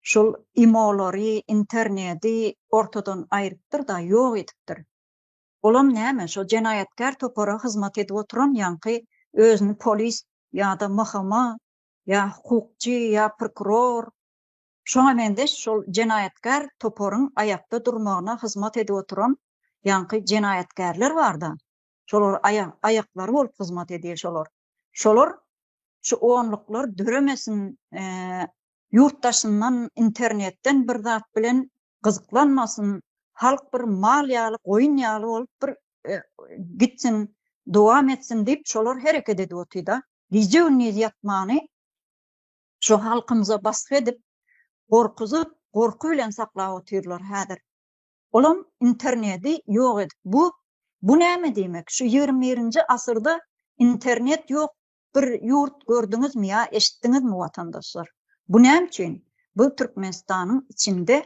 şol imolary, internedi ortadan aýrypdyr-da, ýok edipdir. Olam näme, şo jenaýatkär topara hyzmat edip oturan ýaňky özüni polis ýa-da MHM, ýa hukukçy, ýa prokuror, şoňa meňzeş şol jenaýatkär toparyň aýakda durmagyna hyzmat edip oturan ýaňky jenaýatkärler bar-da, şolar aýak aýaklary bolup hyzmat edýär şolar şolar şu onluklar döremesin ýurt daşyndan internetden bir zat bilen gyzyklanmasyn halk bir mal ýaly goýun ýaly bolup bir gitsin dowam etsin diýip şolar hereket edip otyrda gije gündiz ýatmany şu halkymyza basgy edip gorkuzyp gorky bilen saklap otyrlar häzir Olam internedi ýok edip bu bu näme diýmek şu ýigrimi birinji asyrda internet ýok bir ýurt gördüňizmi ýa eşitdiňizmi watandaşlar bu näme üçin bu Türkmenistanyň içinde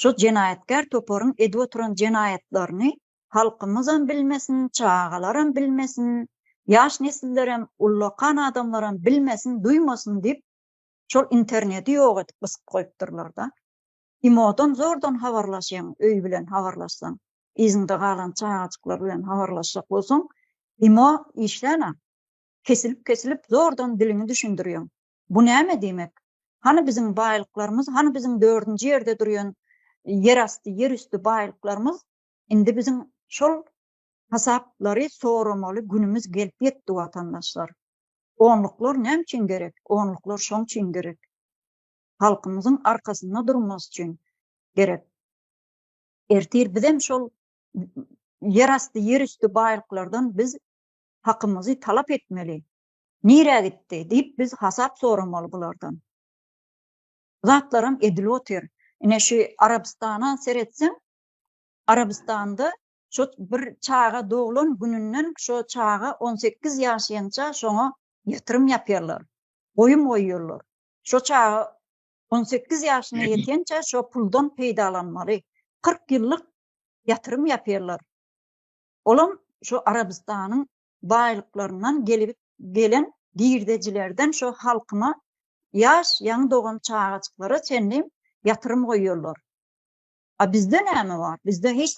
şu jenaýatkär toparyň edip oturan jenaýatlaryny halkymyzam bilmesin çagalaram bilmesin ýaş nesillerem ullakan adamlaram bilmesin duýmasyn diýip şol internedi ýok edip gysyp goýupdyrlarda. Imodan zordan habarlaşýaň, öý bilen habarlaşsaň, yzyňda galan çagajyklar bilen habarlaşjak bolsaň, Imo işlän-ä. Kesilip-kesilip zordan diliňi düşündirýäň. Bu näme diýmek? Hany biziň baýlyklarymyz, hany biziň dördünji ýerde durýan ýerasty, ýerüsti baýlyklarymyz? Indi biziň şol hasaplary soramaly günümiz gelip ýetdi, watandaşlar. Onluklar näme üçin gerek? Onluklar şoň üçin gerek. halkymyzyň arkasynda durmasy üçin gerek. Ertir bizem şol ýerasty, ýerüsti baýlyklardan biz hakymyzy talap etmeli. Nirä gitdi diýip biz hasap soramaly bulardan. Bu zatlaram edilip otyr. Ine şu Arabystana seretseň, Arabystanda şo bir çaga doglan gününden şo çaga on sekiz ýaşynça şoňa ýatyrym ýapýarlar, goýum goýýarlar. Şo çaga on sekiz ýaşyna ýetençä şo puldan peýdalanmaly. Kyrk ýyllyk ýatyrym ýapýarlar. Olam şo Arabystanyň baýlyklaryndan gelip gelen girdejilerden şo halkyma ýaş ýaňy dogan çagajyklara çenli ýatyrym goýýarlar. A bizde näme bar? Bizde hiç